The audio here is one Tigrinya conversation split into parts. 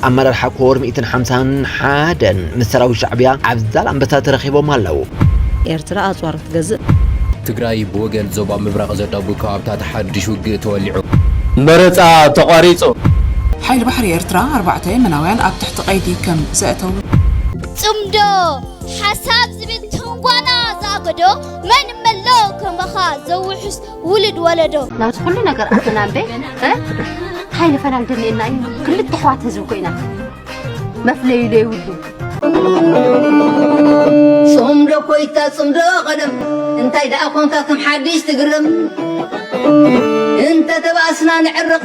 ኣመራርሓ ኮር ሚእትን ሓምሳን ሓደን ምስ ሰራዊት ሻዕብያ ኣብ ዛላምበሳ ተረኺቦም ኣለው። ኤርትራ ኣጽዋር ክትገዝእ? ትግራይ ብወገን ዞባ ምብራቕ ዘዳጉ ከባብታት ሓድሽ ውግእ ተወሊዑ። መረጻ ተቋሪጹ። ሓይሊ ባሕሪ ኤርትራ ኣርባዕተ የመናውያን ኣብ ትሕቲ ቀይዲ ከም ዘእተዉ። ጽምዶ ሓሳብ ዝብል ትንጓና ዝኣገዶ መን እመሎ ከማኻ ዘውሕስ ውልድ ወለዶ ናብዚ ኩሉ ነገር ኣተና እምበ እንታይ ንፈላል ደልየና እዩ ክልተ ኣሕዋት ህዝቢ ኮይና መፍለዩ ዘይብሉ ጽምዶ ኮይታ ጽምዶ ቀደም እንታይ ደኣ ኮንካ ከም ሓድሽ ትግርም እንተ ተባእስና ንዕርቕ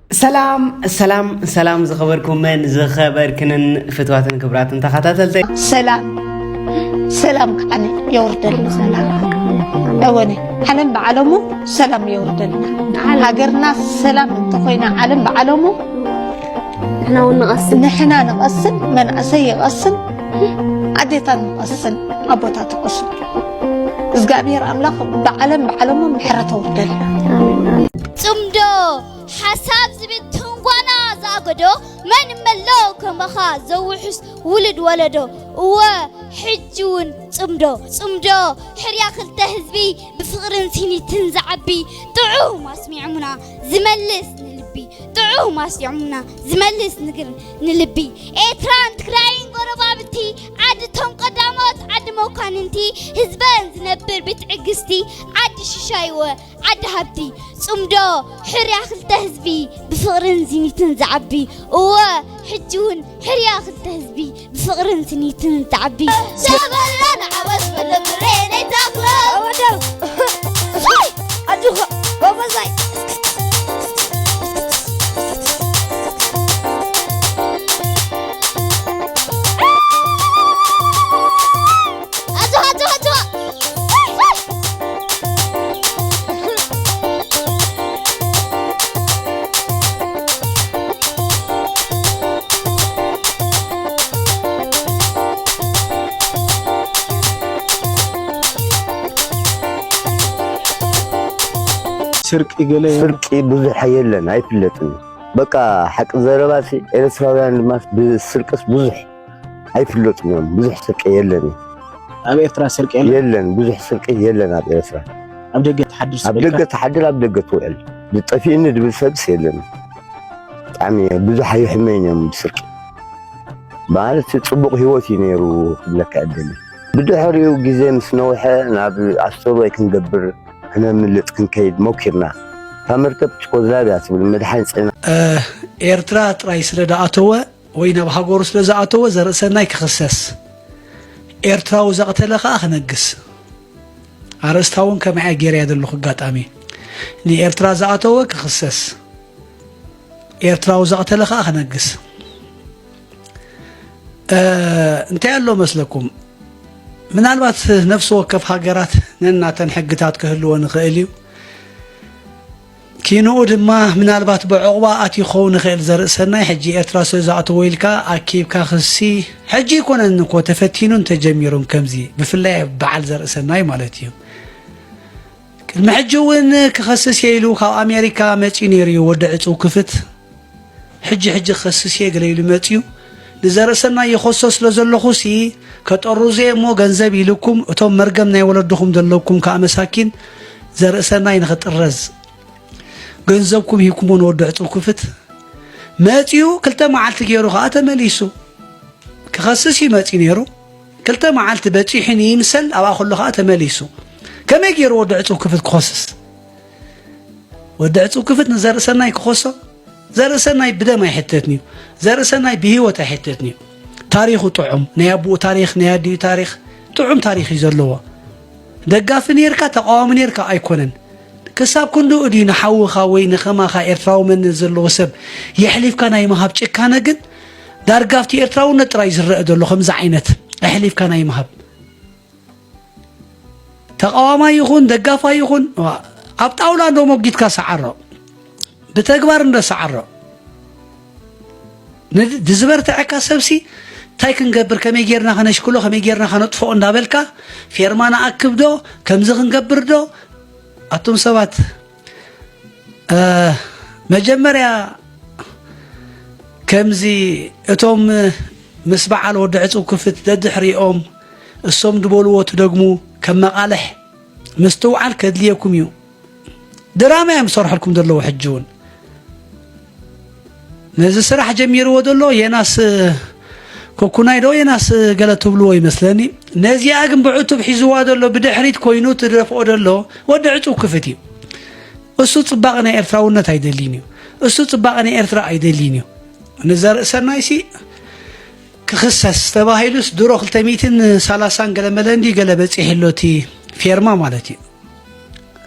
ሰላም ሰላም ሰላም ዝኸበርኩምን ዝኸበርክንን ፍትዋትን ክብራትን ተኸታተልተ ሰላም ሰላም ከዓኒ የወርደሉ ሰላም እወኒ ዓለም ብዓለሙ ሰላም የወርደልና ሃገርና ሰላም እንተኾይና ዓለም ብዓለሙ ንሕና እውን ንቐስን ንሕና ንቐስን መንእሰይ ይቐስን ኣዴታት ንቐስን ኣቦታት ይቐስን እግዚኣብሔር ኣምላኽ ብዓለም ብዓለሙ ምሕረት ኣውርደልና ጽምዶ ሓሳብ ዝብል ትንጓና ዝኣገዶ መን መሎ ከማኻ ዘውሑስ ውሉድ ወለዶ እወ ሕጂ ውን ጽምዶ ጽምዶ ሕርያ ክልተ ህዝቢ ብፍቕርን ሲኒትን ዝዓቢ ጥዑም ኣስሚዕሙና ዝመልስ ንልቢ ጥዑም ኣስሚዕሙና ዝመልስ ንግር ንልቢ ኤርትራን ትግራይን ጎረባብቲ ዓድቶም ቀዳሞት ዓዲ መኳንንቲ ህዝበን ዝነብር ብትዕግስቲ ዓዲ ሽሻይወ ዓዲ ሃብቲ ጽምዶ ሕርያ ክልተ ህዝቢ ብፍቕርን ዝኒትን ዝዓቢ እወ ሕጂ እውን ሕርያ ክልተ ህዝቢ ብፍቕርን ዝኒትን ዝዓቢ ሸበላ ንዓወት ብልብሬነይ ተኽሎ ወደው ኣጆኻ ጎበዛይ ስርቂ ገለ ስርቂ ብዙሕ የለን፣ ኣይፍለጥን። በቃ ሓቂ ዘረባሲ ኤርትራውያን ድማ ብስርቅስ ብዙሕ ኣይፍለጡን እዮም። ብዙሕ ስርቂ የለን እዩ። ኣብ ኤርትራ ስርቂ የለን የለን ብዙሕ ስርቂ የለን ኣብ ኤርትራ ኣብ ደገ ትሓድር ኣብ ስበልካ ደገ ትሓድር ኣብ ደገ ትውዕል ዝጠፊእኒ ዝብል ሰብስ የለን ብጣዕሚ ብዙሕ ኣይሕመይን እዮም ብስርቂ ማለት ፅቡቕ ሂወት እዩ ነይሩ ክብለካ እደሊ ብድሕሪኡ ግዜ ምስ ነውሐ ናብ ኣስተርዋይ ክንገብር ክነምልጥ ክንከይድ ሞኪርና እታ መርከብ ችኮዝላቪያ ትብል መድሓኒት ፅዒና ኤርትራ ጥራይ ስለ ዝኣተወ ወይ ናብ ሃገሩ ስለ ዝኣተወ ዘርእሰናይ ክኽሰስ ኤርትራዊ ዘቕተለ ከኣ ክነግስ ኣርእስታ እውን ከመይ እያ ገይረያ ዘለኹ ኣጋጣሚ ንኤርትራ ዝኣተወ ክኽሰስ ኤርትራዊ ዘቕተለ ከኣ ክነግስ እንታይ ኣሎ መስለኩም ምናልባት ነፍሲ ወከፍ ሃገራት ነናተን ሕግታት ክህልዎ ንኽእል እዩ ኪንኡ ድማ ምናልባት ብዕቑባ ኣትዩ ክኸውን ይኽእል ዘርኢ ሰናይ ሕጂ ኤርትራ ስለ ዝኣተዎ ኢልካ ኣኪብካ ክሲ ሕጂ ኣይኮነን እኮ ተፈቲኑን ተጀሚሩን ከምዚ ብፍላይ በዓል ዘርኢ ሰናይ ማለት እዩ ቅድሚ ሕጂ እውን ክኸስስ እየ ኢሉ ካብ ኣሜሪካ መጺኡ ነይሩ እዩ ወዲ ዕጹው ክፍት ሕጂ ሕጂ ክኸስስ እየ ገለ ኢሉ መጺኡ ንዘርእሰናይ የኾሶ ስለ ዘለኹ ሲ ከጠሩዘ እሞ ገንዘብ ኢልኩም እቶም መርገም ናይ ወለድኹም ዘለኩም ከዓ መሳኪን ዘርእሰናይ ንኽጥረዝ ገንዘብኩም ሂብኩሞ ንወዲ ዕፅው ክፍት መጺኡ ክልተ መዓልቲ ገይሩ ከዓ ተመሊሱ ክኸስስ እዩ መጺ ነይሩ ክልተ መዓልቲ በፂሑ ንይምሰል ኣብኣ ከሎ ከዓ ተመሊሱ ከመይ ገይሩ ወዲ ዕፅው ክፍት ክኸስስ ወዲ ዕፅው ክፍት ንዘርእሰናይ ክኾሶ ዘርእሰናይ ብደም ኣይሕተትንዩ ዘርእሰናይ ብሂወት ኣይሕተትንዩ ታሪኹ ጥዑም ናይ ኣቦኡ ታሪክ ናይ ኣዲኡ ታሪክ ጥዑም ታሪክ እዩ ዘለዎ ደጋፊ ነርካ ተቃዋሚ ነርካ ኣይኮነን ክሳብ ክንዱ እድዩ ንሓውኻ ወይ ንኸማኻ ኤርትራዊ መንነት ዘለዎ ሰብ የሕሊፍካ ናይ ምሃብ ጭካነ ግን ዳርጋ ኣብቲ ኤርትራውነት ጥራይ ዝረአ ዘሎ ከምዚ ዓይነት ኣሕሊፍካ ናይ ምሃብ ተቃዋማይ ይኹን ደጋፋይ ይኹን ኣብ ጣውላ እንዶ ሞጊትካ ሰዓሮ ብተግባር እንዶ ሰዓሮ ንዝበርትዐካ ሰብሲ እንታይ ክንገብር ከመይ ጌርና ከነሽክሎ ከመይ ጌርና ከነጥፍኦ እንዳበልካ ፌርማ ንኣክብዶ ከምዚ ክንገብርዶ ኣቱም ሰባት መጀመርያ ከምዚ እቶም ምስ በዓል ወዲ ዕፁብ ክፍት ደድሕሪኦም እሶም ድበልዎ ትደግሙ ከም መቓልሕ ምስትውዓል ከድልየኩም እዩ ድራማ እዮም ዝሰርሐልኩም ዘለዉ ሕጂ እውን ነዚ ስራሕ ጀሚርዎ ዘሎ የናስ ኮኩናይ ዶ የናስ ገለ ትብልዎ ይመስለኒ ነዚኣ ግን ብዕቱብ ሒዝዋ ዘሎ ብድሕሪት ኮይኑ ትደፍኦ ዘሎ ወዲ ዕፁብ ክፍት እዩ እሱ ጽባቐ ናይ ኤርትራውነት ኣይደልይን እዩ እሱ ጽባቐ ናይ ኤርትራ ኣይደልይን እዩ ንዘርእሰናይ ሲ ክኽሰስ ተባሂሉስ ድሮ 230 ገለ መለ እንዲ ገለ በፂሑ ኣሎ እቲ ፌርማ ማለት እዩ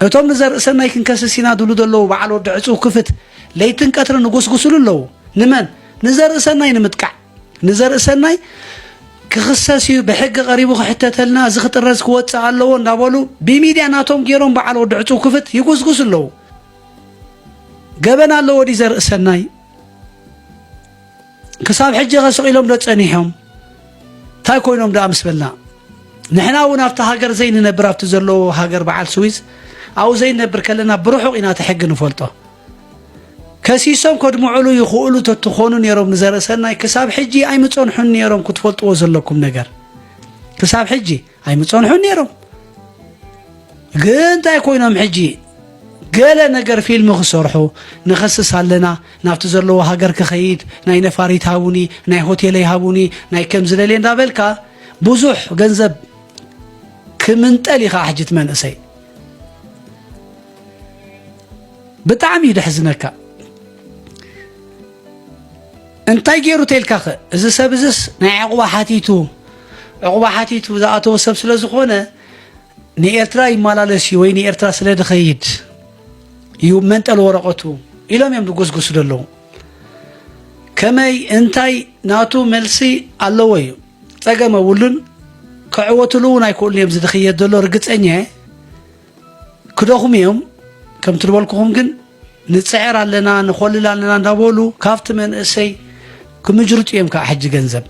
እቶም ንዘርእሰናይ ክንከስስ ኢና ድብሉ ዘለዉ በዓል ወዲ ዕፅው ክፍት ለይትን ቀትርን ንጎስጉስሉ ኣለዉ ንመን ንዘርእሰናይ ንምጥቃዕ ንዘርእሰናይ ክኽሰስ እዩ ብሕጊ ቀሪቡ ክሕተተልና እዚ ክጥረዝ ክወፅእ ኣለዎ እንዳበሉ ብሚድያ ናቶም ገይሮም በዓል ወዲ ዕፅው ክፍት ይጉስጉስ ኣለዉ ገበን ኣለዎ ዲ ዘርእሰናይ ክሳብ ሕጂኸ ስቒሎም ዶ ጸኒሖም እንታይ ኮይኖም ደኣ ምስ በልና ንሕና እውን ኣብቲ ሃገር ዘይንነብር ኣብቲ ዘለዎ ሃገር በዓል ስዊዝ ኣብኡ ዘይነብር ከለና ብርሑቕ ኢና እቲ ሕጊ ንፈልጦ ከሲሶም ከድምዑሉ ይኽእሉ ተትኾኑ ነይሮም ንዘርእሰናይ ክሳብ ሕጂ ኣይምጸንሑን ነይሮም ክትፈልጥዎ ዘለኩም ነገር ክሳብ ሕጂ ኣይምጸንሑን ነይሮም ግን እንታይ ኮይኖም ሕጂ ገለ ነገር ፊልም ክሰርሑ ንኸስስ ኣለና ናብቲ ዘለዎ ሃገር ክኸይድ ናይ ነፋሪት ሃቡኒ ናይ ሆቴለይ ሃቡኒ ናይ ከም ዝደልየ እንዳበልካ ብዙሕ ገንዘብ ክምንጠል ኢኻ ሕጂ እቲ መንእሰይ ብጣዕሚ እዩ ደሕዝነካ እንታይ ገይሩ ተልካ ኸ እዚ ሰብ እዝስ ናይ ዕቑባ ሓቲቱ ዑቕባ ሓቲቱ ዝኣተወ ሰብ ስለ ዝኾነ ንኤርትራ ይመላለስ እዩ ወይ ንኤርትራ ስለ ድኸይድ እዩ መንጠል ወረቐቱ ኢሎም እዮም ዝጎስጎሱ ዘለዉ ከመይ እንታይ ናቱ መልሲ ኣለዎ እዩ ጸገም ኣብሉን ክዕወትሉ እውን ኣይክእሉን እዮም ዝድኽየት ዘሎ ርግጸኛ እየ ክደኽሙ እዮም ከምቲ ዝበልኩኹም ግን ንፅዕር ኣለና ንኾልል ኣለና እንዳበሉ ካብቲ መንእሰይ ክምጅርጡ እዮም ከዓ ሕጂ ገንዘብ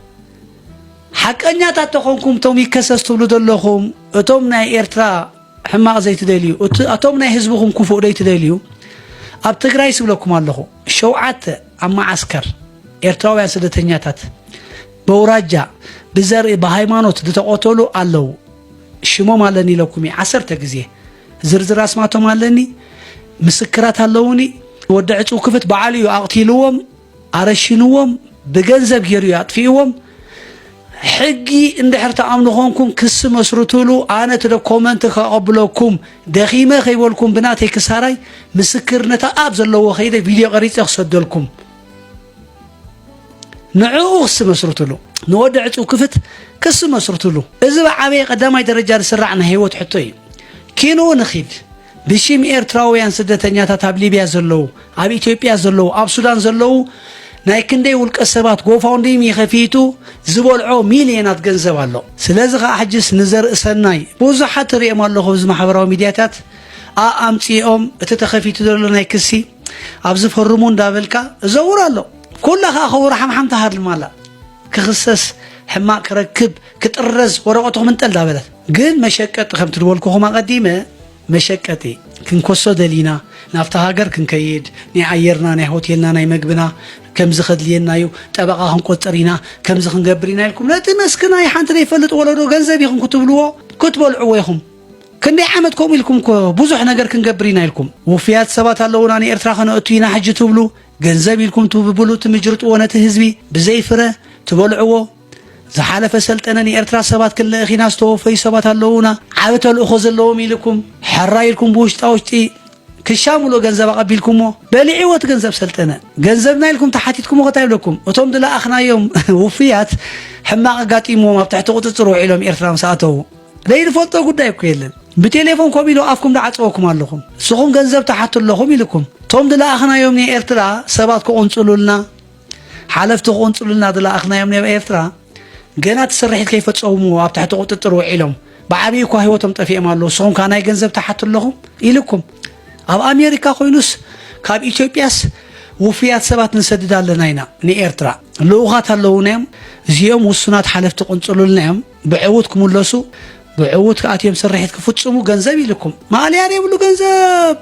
ሓቀኛታት ተኾንኩም እቶም ይከሰስ ትብሉ ዘለኹም እቶም ናይ ኤርትራ ሕማቕ ዘይትደልዩ እቶም ናይ ህዝብኹም ክፉእ ዘይትደልዩ ኣብ ትግራይ ስብለኩም ኣለኹ ሸውዓተ ኣብ መዓስከር ኤርትራውያን ስደተኛታት በውራጃ ብዘርኢ ብሃይማኖት ዝተቆተሉ ኣለዉ ሽሞም ኣለኒ ኢለኩም እየ ዓሰርተ ግዜ ዝርዝር ኣስማቶም ኣለኒ ምስክራት ኣለውኒ ወዲ ዕፅው ክፍት በዓሉ እዩ ኣቕቲልዎም ኣረሽንዎም ብገንዘብ ገይሩ እዩ ኣጥፊእዎም ሕጊ እንድሕር ተኣምኑ ኮንኩም ክሲ መስርትሉ ኣነ እቲ ዶኮመንት ከቐብለኩም ደኺመ ከይበልኩም ብናተይ ክሳራይ ምስክርነት ኣብ ዘለዎ ከይደ ቪድዮ ቀሪፀ ክሰደልኩም ንዕኡ ክሲ መስርትሉ ንወዲ ዕፅው ክፍት ክሲ መስርትሉ እዚ ብዓበየ ቀዳማይ ደረጃ ዝስራዕ ናይ ህይወት ሕቶ እዩ ኪንኡ ንኺድ ብሽም ኤርትራውያን ስደተኛታት ኣብ ሊብያ ዘለዉ ኣብ ኢትዮጵያ ዘለዉ ኣብ ሱዳን ዘለዉ ናይ ክንደይ ውልቀ ሰባት ጎፋውንዲሚ ከፊቱ ዝበልዖ ሚልዮናት ገንዘብ ኣሎ ስለዚ ከዓ ሕጅስ ንዘርኢ ሰናይ ብዙሓት ትሪኦም ኣለኹ እዚ ማሕበራዊ ሚድያታት ኣኣምፂኦም እቲ ተኸፊቱ ዘሎ ናይ ክሲ ኣብዚ ፈርሙ እንዳበልካ እዘውር ኣሎ ኩላ ከዓ ከውር ሓምሓም ትሃድልም ኣላ ክኽሰስ ሕማቅ ክረክብ ክጥረዝ ወረቀቱ ክምንጠል ዳበለት ግን መሸቀጢ ከም ትድበልኩኹም ኣቀዲመ መሸቀጢ ክንኮሶ ደሊና ናብቲ ሃገር ክንከይድ ናይ ኣየርና ናይ ሆቴልና ናይ መግብና ከምዚ ከድልየና እዩ ጠበቃ ክንቆፅር ኢና ከምዚ ክንገብር ኢና ኢልኩም ነቲ መስክና ሓንቲ ዘይፈልጥ ወለዶ ገንዘብ ይኹም ክትብልዎ ክትበልዕዎ ይኹም ክንደይ ዓመት ከምኡ ኢልኩም እኮ ብዙሕ ነገር ክንገብር ኢና ኢልኩም ውፍያት ሰባት ኣለውና ንኤርትራ ከነእቱ ኢና ሕጂ ትብሉ ገንዘብ ኢልኩም ትብብሉ ትምጅርጥዎ ነቲ ህዝቢ ብዘይ ፍረ ትበልዕዎ ዝሓለፈ ሰልጠነ ንኤርትራ ሰባት ክንልእኽ ኢና ዝተወፈዩ ሰባት ኣለውና ዓብ ተልእኾ ዘለዎም ኢልኩም ሕራ ኢልኩም ብውሽጣ ውሽጢ ክሻምሎ ገንዘብ ኣቐቢልኩምዎ በሊዕዎ እቲ ገንዘብ ሰልጠነ ገንዘብና ኢልኩም ተሓቲትኩሞ ከታ ይብለኩም እቶም ድለኣኽናዮም ውፍያት ሕማቕ ኣጋጢምዎም ኣብ ትሕቲ ቁፅፅር ውዒሎም ኤርትራ ምስ ኣተዉ ዘይንፈልጦ ጉዳይ እኮ የለን ብቴሌፎን ኮብ ኢሎ ኣፍኩም ዳዓፀወኩም ኣለኹም ንስኹም ገንዘብ ተሓቱ ኣለኹም ኢልኩም እቶም ድለኣኽናዮም ናይ ኤርትራ ሰባት ክቕንፅሉልና ሓለፍቲ ክቕንፅሉልና ድለኣኽናዮም ናይ ኤርትራ ገና እቲ ስርሒት ከይፈፀሙ ኣብ ትሕቲ ቁጥጥር ውዒሎም ብዓብዪ እኳ ህይወቶም ጠፊኦም ኣለዉ ንስኹም ከዓ ናይ ገንዘብ ተሓቱ ኣለኹም ኢልኩም ኣብ ኣሜሪካ ኮይኑስ ካብ ኢትዮጵያስ ውፍያት ሰባት ንሰድድ ኣለና ኢና ንኤርትራ ልኡኻት ኣለዉና እዮም እዚኦም ውሱናት ሓለፍቲ ቅንፅሉልና እዮም ብዕውት ክምለሱ ብዕውት ከኣ እትዮም ስርሒት ክፍጽሙ ገንዘብ ይልኩም ማእለያ ዘይብሉ ገንዘብ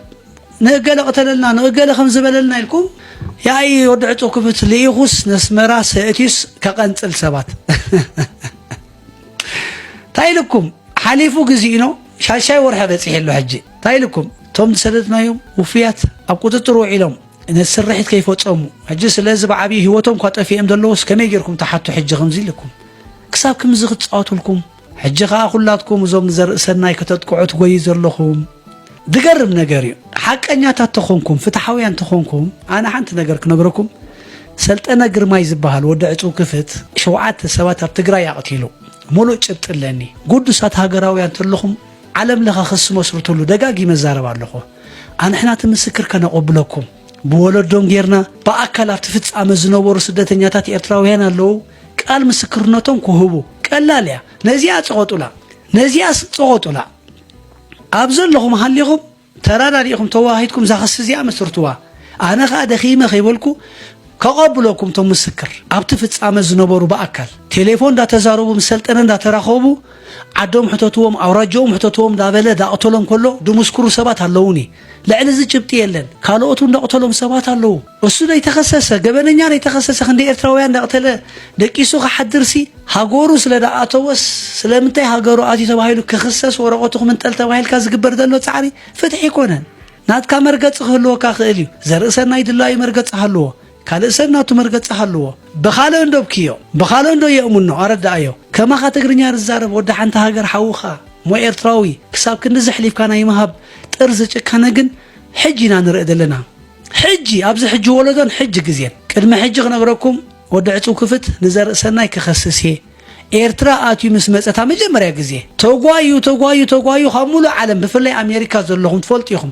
ንእገለ ቅተለልና ንእገለ ከም ዝበለልና ኢልኩም ያኢ ወዲ ዕጹብ ክፍት ልኢኹስ ነስመራ ሰእትዩስ ከቐንጽል ሰባት እንታይ ኢልኩም ሓሊፉ ግዜኡኖ ሻሻይ ወርሒ በጺሒ ኣሎ ሕጂ እንታይ ኢልኩም እቶም ዝሰደድናዮም ውፍያት ኣብ ቁጽጽር ውዒሎም ነቲ ስርሒት ከይፈጸሙ ሕጂ ስለዚ ብዓብዪ ህይወቶም እኳ ጠፊኦም ዘለዎስ ከመይ ጌርኩም ትሓቱ ሕጂ ከምዚ ኢልኩም ክሳብ ክምዚ ክትጻወትልኩም ሕጂ ከኣ ኩላትኩም እዞም ንዘርኢ ሰናይ ከተጥቅዑ ትጎዩ ዘለኹም ዝገርም ነገር እዩ ሓቀኛታት ተኾንኩም ፍትሓውያን ተኾንኩም ኣነ ሓንቲ ነገር ክነግረኩም ሰልጠነ ግርማይ ዝበሃል ወዲ ዕፅው ክፍት ሸውዓተ ሰባት ኣብ ትግራይ ኣቕቲሉ ሙሉእ ጭብጢ ኣለኒ ጉዱሳት ሃገራውያን ተለኹም ዓለም ለኸ ክስ መስርትሉ ደጋጊመ ዛረብ ኣለኹ ኣንሕና እቲ ምስክር ከነቆብለኩም ብወለዶም ጌርና ብኣካል ኣብቲ ፍጻመ ዝነበሩ ስደተኛታት ኤርትራውያን ኣለዉ ቃል ምስክርነቶም ክህቡ ቀላል እያ ነዚኣ ጸቆጡላ ነዚኣስ ጸቆጡላ ኣብ ዘለኹም ሃሊኹም ተራዳዲእኹም ተዋሃሂድኩም እዛ ክሲ እዚኣ መስርትዋ ኣነ ከኣ ደኺመ ከይበልኩ ከቐብለኩም እቶም ምስክር ኣብቲ ፍጻመ ዝነበሩ ብኣካል ቴሌፎን እንዳተዛረቡ ምስ ሰልጠነ እንዳተራኸቡ ዓዶም ሕተትዎም ኣውራጃኦም ሕተትዎም እንዳበለ ዳቕተሎም ከሎ ድምስክሩ ሰባት ኣለዉኒ ልዕሊ እዚ ጭብጢ የለን ካልኦት እውን ዘቕተሎም ሰባት ኣለዉ እሱ ነይተኸሰሰ ገበነኛ ነይተኸሰሰ ክንደይ ኤርትራውያን እንዳቕተለ ደቂሱ ክሓድርሲ ሃገሩ ስለ ደኣተወስ ስለምንታይ ሃገሩ ኣትዩ ተባሂሉ ክኽሰስ ወረቐቱ ክምንጠል ተባሂልካ ዝግበር ዘሎ ጻዕሪ ፍትሒ ኣይኮነን ናትካ መርገጺ ክህልወካ ክእል እዩ ዘርእሰናይ ድላዩ መርገጺ ሃልዎ ካልእ ሰብ ናቱ መርገጺ ሃልዎ ብኻልእ እንዶ ብክዮ ብኻልእ እንዶ የእሙኖ ኣረዳኣዮ ከማኻ ትግርኛ ዝዛረብ ወዲ ሓንቲ ሃገር ሓውኻ እሞ ኤርትራዊ ክሳብ ክንዲ ዘሕሊፍካ ናይ ምሃብ ጥርዚ ጭካነ ግን ሕጂ ኢና ንርኢ ዘለና ሕጂ ኣብዚ ሕጂ ወለዶን ሕጂ ግዜን ቅድሚ ሕጂ ክነግረኩም ወዲ ዕጽው ክፍት ንዘርእሰናይ ክኸስስ እየ ኤርትራ ኣትዩ ምስ መጸታ መጀመርያ ግዜ ተጓዩ ተጓዩ ተጓዩ ካብ ሙሉእ ዓለም ብፍላይ ኣሜሪካ ዘለኹም ትፈልጡ ኢኹም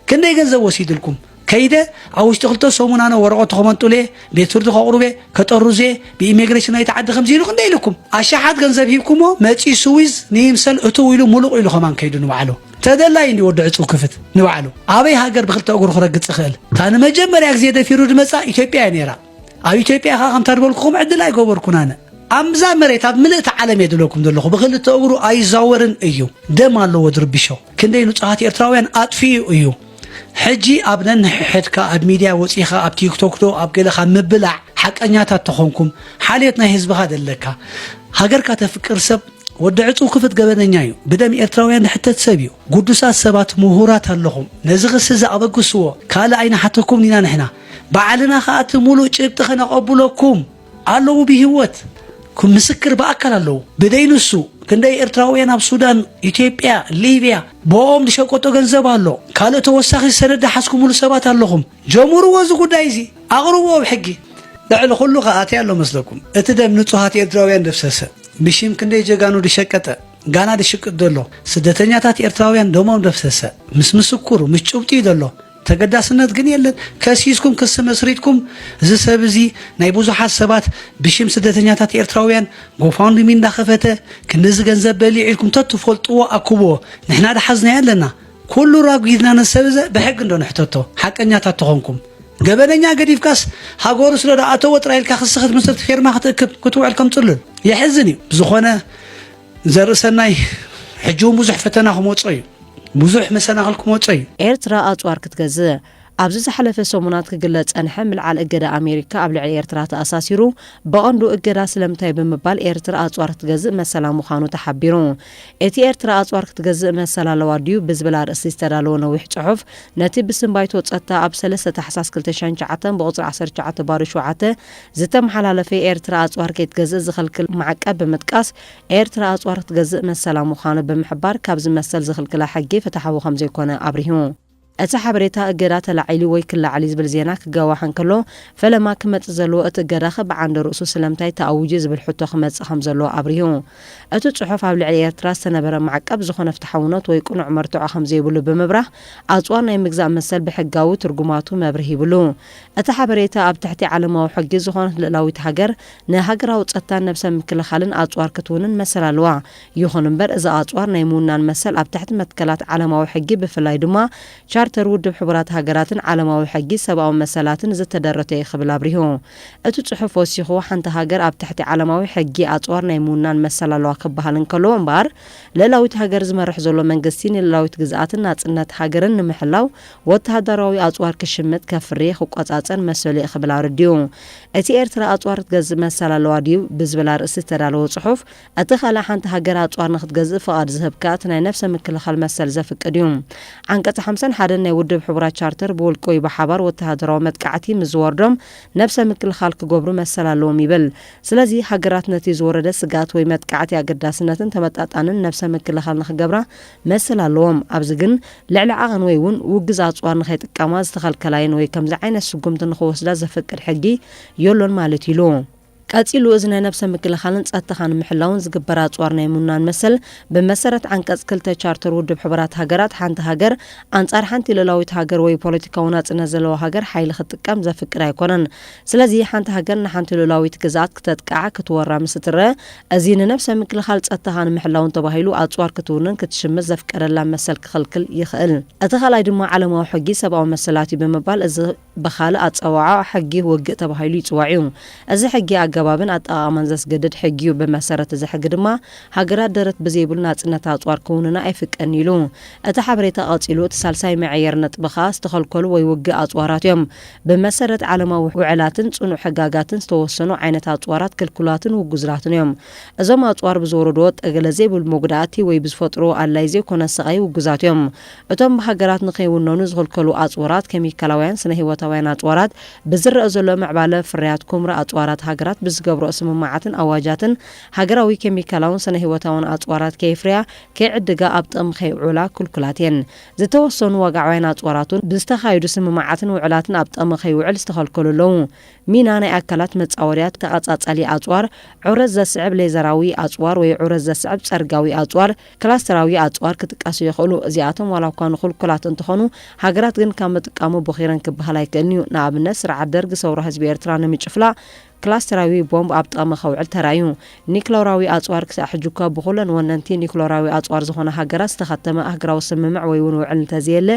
ክንደይ ገንዘብ ወሲድልኩም ከይደ ኣብ ውሽጢ ክልተ ሰሙን ኣነ ወረቐቱ ከመንጡለ ቤት ፍርዲ ከቕሩበ ከጠርዘ ብኢሚግሬሽን ናይቲ ዓዲ ከምዚ ኢሉ ክንደይ ኢልኩም ኣሻሓት ገንዘብ ሂብኩሞ መፂኡ ስዊዝ ንይምሰል እትው ኢሉ ሙሉቕ ኢሉ ከማን ከይዱ ንባዕሉ ተደላይ እንዲ ወዲ ዕጹው ክፍት ንባዕሉ ኣበይ ሃገር ብክልተ እግሩ ክረግጽ ይኽእል እታ ንመጀመርያ ግዜ ደፊሩ ድመጻ ኢትዮጵያ እያ ነይራ ኣብ ኢትዮጵያ ኻ ከምታ ድበልኩኹም ዕድል ኣይገበርኩን ኣነ ኣብዛ መሬት ኣብ ምልእቲ ዓለም እየ ድብለኩም ዘለኹ ብክልተ እግሩ ኣይዛወርን እዩ ደም ኣለዎ ድርብሾ ክንደይ ንጹሃት ኤርትራውያን ኣጥፍኡ እዩ ሕጂ ኣብ ነንሕድካ ኣብ ሚድያ ወፂኻ ኣብ ቲክቶክ ዶ ኣብ ገለ ካብ ምብላዕ ሓቀኛታት ተኾንኩም ሓልዮት ናይ ህዝብኻ ደለካ ሃገርካ ተፍቅር ሰብ ወዲ ዕጹው ክፍት ገበነኛ እዩ ብደም ኤርትራውያን ዝሕተት ሰብ እዩ ጉዱሳት ሰባት ምሁራት ኣለኹም ነዚ ክሲ እዚ ኣበግስዎ ካልእ ኣይንሓተኩም ኢና ንሕና ባዕልና ከኣ እቲ ሙሉእ ጭብጢ ከነቐብለኩም ኣለዉ ብሂወት ምስክር ብኣካል ኣለዉ ብደይ ንሱ ክንደይ ኤርትራውያን ኣብ ሱዳን ኢትዮጵያ ሊብያ ብኦም ዝሸቀጦ ገንዘብ ኣሎ ካልእ ተወሳኺ ሰነድ ሓዝኩምሉ ሰባት ኣለኹም ጀሙርዎ እዚ ጉዳይ እዚ ኣቅርብዎ ኣብ ሕጊ። ልዕሊ ኩሉ ከኣ ታይ ኣሎ መስለኩም እቲ ደም ንጹሃት ኤርትራውያን ደፍሰሰ ብሺም ክንደይ ጀጋኑ ድሸቀጠ ጋና ድሽቅጥ ደሎ ስደተኛታት ኤርትራውያን ደሞም ደፍሰሰ ምስ ምስኩር ምስ ጭብጢ እዩ ደሎ ተገዳስነት ግን የለን ከሲስኩም ክሲ መስሪትኩም እዚ ሰብ እዚ ናይ ብዙሓት ሰባት ብሺም ስደተኛታት ኤርትራውያን ጎፋንድሚ እንዳኸፈተ ክንድዚ ገንዘብ በሊዑ ኢልኩም ተትፈልጥዎ ኣኩብዎ ንሕና ድሓዝናዮ ኣለና ኩሉ ራጒድና ንሰብ እዘ ብሕጊ እንዶ ንሕተቶ ሓቀኛታት ተኾንኩም ገበነኛ ገዲፍካስ ሃገሩ ስለ ዝኣተዎ ጥራይ ኢልካ ክሲ ክትምስርት ፌርማ ክትእክብ ክትውዕል ከም ጽሉል የሕዝን እዩ ብዝኾነ ዘርእሰናይ ሕጂ እውን ብዙሕ ፈተና ክመጾ እዩ ብዙሕ መሰናኽል ክመጾ እዩ ኤርትራ ኣጽዋር ክትገዝእ ኣብዚ ዝሓለፈ ሰሙናት ክግለጽ ዝጸንሐ ምልዓል እገዳ ኣሜሪካ ኣብ ልዕሊ ኤርትራ ተኣሳሲሩ፣ ብቐንዱ እገዳ ስለምንታይ ብምባል ኤርትራ ኣጽዋር ክትገዝእ መሰላ ምዃኑ ተሓቢሩ። እቲ ኤርትራ ኣጽዋር ክትገዝእ መሰል ኣለዋ ድዩ ብዝብል ኣርእስቲ ዝተዳለወ ነዊሕ ጽሑፍ፣ ነቲ ብስም ባይቶ ጸጥታ ኣብ ሰለስተ ታሕሳስ ክልተ ሽሕን ትሽዓተን ብቑጽሪ ዓሰርተ ትሽዓተ ባዶ ሸውዓተ ዝተመሓላለፈ ኤርትራ ኣጽዋር ከይትገዝእ ዝኽልክል ማዕቀብ ብምጥቃስ ኤርትራ ኣጽዋር ክትገዝእ መሰላ ምዃኑ ብምሕባር ካብዚ መሰል ዝኽልክላ ሕጊ ፍትሓዊ ከምዘይኮነ ኣብሪሁ። እቲ ሓበሬታ እገዳ ተላዒሉ ወይ ክለዓል እዩ ዝብል ዜና ክጋዋሕ እንከሎ፣ ፈለማ ክመጽእ ዘለዎ እቲ እገዳኸ ብዓንደ ርእሱ ስለምንታይ ተኣዊጁ ዝብል ሕቶ ክመጽእ ከም ዘለዎ ኣብሪሁ። እቲ ጽሑፍ ኣብ ልዕሊ ኤርትራ ዝተነበረ ማዕቀብ ዝኾነ ፍትሓውነት ወይ ቅኑዕ መርትዖ ከም ዘይብሉ ብምብራህ ኣጽዋር ናይ ምግዛእ መሰል ብሕጋዊ ትርጉማቱ መብርሂ ይብሉ። እቲ ሓበሬታ ኣብ ትሕቲ ዓለማዊ ሕጊ ዝኾነት ልእላዊት ሃገር ንሃገራዊ ጸጥታን ነብሰ ምክልኻልን ኣጽዋር ክትውንን መሰል ኣለዋ። ይኹን እምበር እዚ ኣጽዋር ናይ ምውናን መሰል ኣብ ትሕቲ መትከላት ዓለማዊ ሕጊ ብፍላይ ድማ ቻርተር ውድብ ሕቡራት ሃገራትን ዓለማዊ ሕጊ ሰብኣዊ መሰላትን ዝተደረተ እዩ ክብል ኣብሪሁ። እቲ ጽሑፍ ወሲኹ ሓንቲ ሃገር ኣብ ትሕቲ ዓለማዊ ሕጊ ኣጽዋር ናይ ምውናን መሰል ኣለዋ ክበሃል እንከሎ እምበኣር ልእላዊት ሃገር ዝመርሕ ዘሎ መንግስቲ ንልእላዊት ግዝኣትን ናጽነት ሃገርን ንምሕላው ወተሃደራዊ ኣጽዋር ክሽምት፣ ከፍሪ፣ ክቆጻጸር መሰሉ እዩ ክብል ኣረዲኡ። እቲ ኤርትራ ኣጽዋር ክትገዝእ መሰል ኣለዋ ድዩ? ብዝብል ኣርእስቲ ዝተዳለወ ጽሑፍ እቲ ካልእ ሓንቲ ሃገር ኣጽዋር ንክትገዝእ ፍቓድ ዝህብ ከኣ እቲ ናይ ነፍሰ ምክልኻል መሰል ዘፍቅድ እዩ። ዓንቀጽ ሓምሳን ሓደን ናይ ውድብ ሕቡራት ቻርተር ብውልቂ ወይ ብሓባር ወተሃደራዊ መጥቃዕቲ ምስ ዝወርዶም ነፍሰ ምክልኻል ክገብሩ መሰል ኣለዎም ይብል። ስለዚ ሃገራት ነቲ ዝወረደ ስግኣት ወይ መጥቃዕቲ ኣገዳስነትን ተመጣጣንን ነፍሰ ምክልኻል ንክገብራ መሰል ኣለዎም። ኣብዚ ግን ልዕሊ ዓቐን ወይ እውን ውግዝ ኣጽዋር ንከይጥቀማ ዝተኸልከላ እየን ወይ ከምዚ ዓይነት ስጉምቲ ንክወስዳ ዘፍቅድ ሕጊ የሎን ማለት እዩ ኢሉ። ቀጺሉ እዝነ ነብሰ ምክልኻልን ጸጥታኻ ንምሕላውን ዝግበር ኣጽዋር ናይ ምውናን መሰል ብመሰረት ዓንቀጽ ክልተ ቻርተር ውድብ ሕቡራት ሃገራት ሓንቲ ሃገር ኣንጻር ሓንቲ ልኡላዊት ሃገር ወይ ፖለቲካዊ ናጽነት ዘለዋ ሃገር ሓይሊ ክትጥቀም ዘፍቅድ ኣይኮነን። ስለዚ ሓንቲ ሃገር ንሓንቲ ልኡላዊት ግዝኣት ክተጥቅዓ፣ ክትወራ፣ ምስ እትረኣ እዚ ንነብሰ ምክልኻል ጸጥታኻ ንምሕላውን ተባሂሉ ኣጽዋር ክትውንን ክትሽምት ዘፍቀደላ መሰል ክኽልክል ይኽእል። እቲ ካልኣይ ድማ ዓለማዊ ሕጊ ሰብኣዊ መሰላት እዩ ብምባል እዚ ብኻልእ ኣጸዋዕዖ ሕጊ ውግእ ተባሂሉ ይጽዋዕ እዩ። እዚ ሕጊ ኣገባብን ኣጠቓቕማን ዘስገድድ ሕጊ እዩ። ብመሰረት እዚ ሕጊ ድማ ሃገራት ደረት ብዘይብሉ ናጽነት ኣጽዋር ክውንና ኣይፍቀድን ኢሉ። እቲ ሓበሬታ ቀጺሉ እቲ ሳልሳይ መዐየሪ ነጥቢ ከኣ ዝተኸልከሉ ወይ ውግእ ኣጽዋራት እዮም። ብመሰረት ዓለማዊ ውዕላትን ጽኑዕ ሕጋጋትን ዝተወሰኑ ዓይነት ኣጽዋራት ክልኩላትን ውጉዝላትን እዮም። እዞም ኣጽዋር ብዝወረድዎ ጠገለ ዘይብሉ መጉዳእቲ ወይ ብዝፈጥርዎ ኣድላይ ዘይኮነ ስቓይ ውጉዛት እዮም። እቶም ብሃገራት ንኸይውነኑ ዝኽልከሉ ኣጽዋራት፣ ከሚካላውያን፣ ስነ-ህይወታውያን ኣጽዋራት፣ ብዝረኣ ዘሎ ምዕባለ ፍርያት ኩምራ ኣጽዋራት ሃገራት ብዝገብርኦ ስምምዓትን ኣዋጃትን ሃገራዊ ከሚካላውን ስነ-ህይወታውን ኣጽዋራት ከየፍርያ፣ ከይዕድጋ፣ ኣብ ጥቕሚ ከይውዕላ ክልኩላት እየን። ዝተወሰኑ ዋጋዓውያን ኣጽዋራት'ውን ብዝተኻየዱ ስምምዓትን ውዕላትን ኣብ ጥቕሚ ከይውዕል ዝተኸልከሉ ኣለዉ። ሚና ናይ ኣካላት መጻወድያ ተቐጻጻሊ ኣጽዋር፣ ዑረት ዘስዕብ ሌዘራዊ ኣጽዋር ወይ ዑረት ዘስዕብ ጸርጋዊ ኣጽዋር፣ ክላስተራዊ ኣጽዋር ክጥቀሱ ይኽእሉ። እዚኣቶም ዋላኳ ንኩልኩላት እንተኾኑ፣ ሃገራት ግን ካብ ምጥቃሙ ቦኺረን ክበሃል ኣይክእልን'ዩ። ንኣብነት ስርዓት ደርግ ሰውራ ህዝቢ ኤርትራ ንምጭፍላቕ ክላስተራዊ ቦምብ ኣብ ጥቕሚ ከውዕል ተራእዩ። ኒክሎራዊ ኣጽዋር ክሳዕ ሕጂ'ኳ ብኹለን ወነንቲ ኒክሎራዊ ኣጽዋር ዝኾና ሃገራት ዝተኸተመ ኣህግራዊ ስምምዕ ወይ'ውን ውዕል እንተዘየለ፣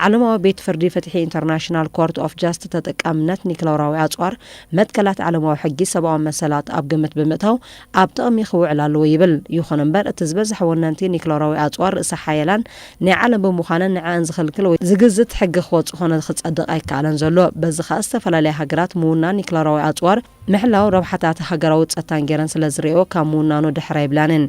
ዓለማዊ ቤት ፍርዲ ፍትሒ ኢንተርናሽናል ኮርት ኦፍ ጃስት ተጠቃምነት ኒክሎራዊ ኣጽዋር መትከላት ዓለማዊ ሕጊ ሰብኣዊ መሰላት ኣብ ግምት ብምእታው ኣብ ጥቕሚ ክውዕል ኣለዎ ይብል። ይኹን እምበር እቲ ዝበዝሐ ወነንቲ ኒክለራዊ ኣጽዋር ርእሰ ሓየላን ናይ ዓለም ብምዃነን ንዐኣን ዝኽልክል ወይ ዝግዝት ሕጊ ክወጽእ ኮነ ክጸድቕ ኣይከኣለን ዘሎ። በዚ ከኣ ዝተፈላለያ ሃገራት ምውናን ኒክለራዊ ኣጽዋር ምሕላው ረብሓታት ሃገራዊ ጸታን ገይረን ስለ ዝርእየኦ ካብ ምውናኑ ድሕር ኣይብላንን።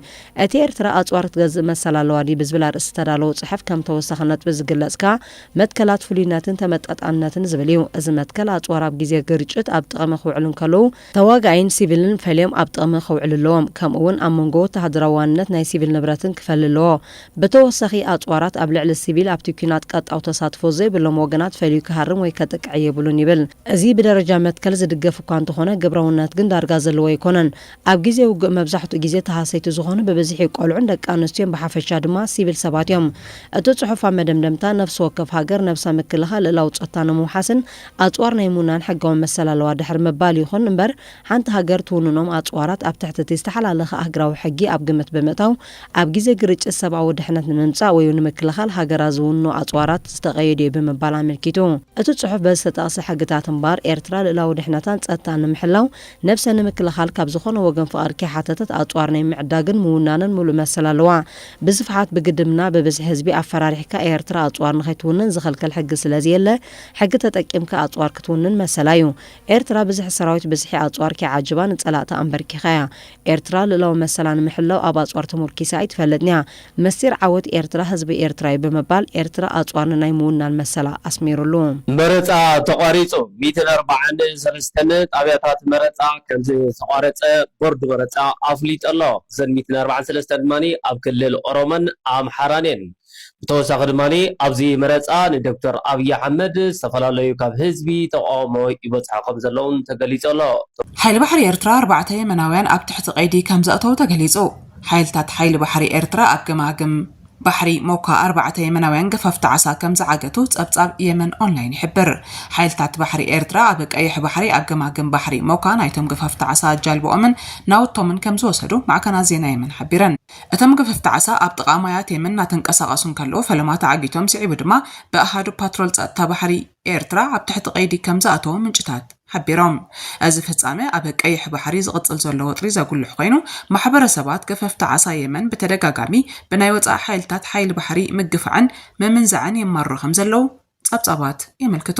እቲ ኤርትራ ኣጽዋር ክትገዝእ መሰል ኣለዋ ድዩ ብዝብል ኣርእስቲ ዝተዳለወ ጽሑፍ ከም ተወሳኺ ነጥቢ ዝግለጽ ከኣ መትከላት ፍሉይነትን ተመጣጣንነትን ዝብል እዩ። እዚ መትከል ኣጽዋር ኣብ ግዜ ግርጭት ኣብ ጥቕሚ ክውዕሉ እንከለዉ ተዋጋኣይን ሲቪልን ፈልዮም ኣብ ጥቕሚ ክውዕሉ ኣለዎም፣ ከምኡ እውን ኣብ መንጎ ወተሃደራዊ ዋንነት ናይ ሲቪል ንብረትን ክፈሊ ኣለዎ። ብተወሳኺ ኣጽዋራት ኣብ ልዕሊ ሲቪል ኣብቲ ኲናት ቀጥታዊ ተሳትፎ ዘይብሎም ወገናት ፈልዩ ክሃርም ወይ ከጥቅዕ የብሉን ይብል። እዚ ብደረጃ መትከል ዝድገፍ እኳ እንተኾነ ግብረውነት ግን ዳርጋ ዘለዎ ኣይኮነን። ኣብ ግዜ ውግእ መብዛሕትኡ ግዜ ተሃሰይቲ ዝኾኑ ብብዝሒ ቆልዑን ደቂ ኣንስትዮን ብሓፈሻ ድማ ሲቪል ሰባት እዮም። እቲ ጽሑፍ ኣብ መደምደምታ ነፍሲ ወከፍ ሃገር ነብሳ ምክልኻል ልእላዊ ጸታ ንምውሓስን ኣጽዋር ናይ ምውናን ሕጋዊ መሰል ኣለዋ ድሕሪ ምባል፣ ይኹን እምበር ሓንቲ ሃገር ትውንኖም ኣጽዋራት ኣብ ትሕቲ እቲ ዝተሓላለኸ ኣህግራዊ ሕጊ ኣብ ግምት ብምእታው ኣብ ግዜ ግርጭት ሰብኣዊ ድሕነት ንምምጻእ ወይው ንምክልኻል ሃገራት ዝውንንኦ ኣጽዋራት ዝተቐየደ'ዩ ብምባል ኣመልኪቱ። እቲ ጽሑፍ በዚ ዝተጠቕሰ ሕግታት እምበኣር፣ ኤርትራ ልእላዊ ድሕነታን ጸጥታን ንምሕላው ነብሰ ንምክልኻል ካብ ዝኾነ ወገን ፍቓድ ከይሓተተት ኣጽዋር ናይ ምዕዳግን ምውናንን ምሉእ መሰል ኣለዋ። ብስፍሓት ብግድምና ብብዝሒ ህዝቢ ኣፈራሪሕካ ኤርትራ ኣጽዋር ንኸይትውንን ዝኸልከል ሕጊ ስለዘየለ፣ ሕጊ ተጠቂምካ ኣጽዋር ክትውንን መሰላ እዩ። ኤርትራ ብዝሒ ሰራዊት ብዝሒ ኣጽዋር ኪዓጅባ ንጸላእታ ኣምበርኪኻ እያ። ኤርትራ ልእላዊ መሰላ ንምሕላው ኣብ ኣጽዋር ተሞርኪሳ ኣይትፈልጥን እያ። ምስጢር ዓወት ኤርትራ ህዝቢ ኤርትራ እዩ ብምባል ኤርትራ ኣጽዋር ንናይ ምውናን መሰላ ኣስሚሩሉ። መረጻ ተቋሪጹ። ሚእትን ኣርባዓን ሰለስተን ጣብያታት መረጻ ከምዝተቋረጸ ቦርድ መረጻ ኣፍሊጡ ኣሎ። እዘን ሚእትን ኣርባዓን ሰለስተን ድማ ኣብ ክልል ኦሮሞን ኣምሓራን እየን። ብተወሳኺ ድማ ኣብዚ መረፃ ንዶክተር ኣብይ ኣሕመድ ዝተፈላለዩ ካብ ህዝቢ ተቃውሞ ይበፅሖ ከምዘለውን ተገሊፁ ኣሎ። ሓይሊ ባሕሪ ኤርትራ ኣርባዕተ የመናውያን ኣብ ትሕቲ ቀይዲ ከምዘእተዉ ተገሊጹ። ሓይልታት ሓይሊ ባሕሪ ኤርትራ ኣብ ገማግም ባሕሪ ሞካ ኣርባዕተ የመናውያን ገፈፍቲ ዓሳ ከምዝዓገቱ ጸብጻብ የመን ኦንላይን ይሕብር። ሓይልታት ባሕሪ ኤርትራ ኣብ ቀይሕ ባሕሪ ኣብ ገማግም ባሕሪ ሞካ ናይቶም ገፈፍቲ ዓሳ ጃልብኦምን ናውቶምን ከምዝወሰዱ ማዕከናት ዜና የመን ሓቢረን። እቶም ገፈፍቲ ዓሳ ኣብ ጥቓ ማያት የመን እናተንቀሳቐሱ እንከለዉ ፈለማ ተዓጊቶም፣ ስዒቡ ድማ ብኣሃዱ ፓትሮል ጸጥታ ባሕሪ ኤርትራ ኣብ ትሕቲ ቀይዲ ከም ዝኣተዉ ምንጭታት ሓቢሮም። እዚ ፍጻመ ኣብ ቀይሕ ባሕሪ ዝቕጽል ዘሎ ወጥሪ ዘጉልሕ ኮይኑ፣ ማሕበረሰባት ገፈፍቲ ዓሳ የመን ብተደጋጋሚ ብናይ ወጻኢ ሓይልታት ሓይሊ ባሕሪ ምግፋዕን ምምንዛዕን የማርሩ ከም ዘለዉ ጸብጻባት የመልክቱ።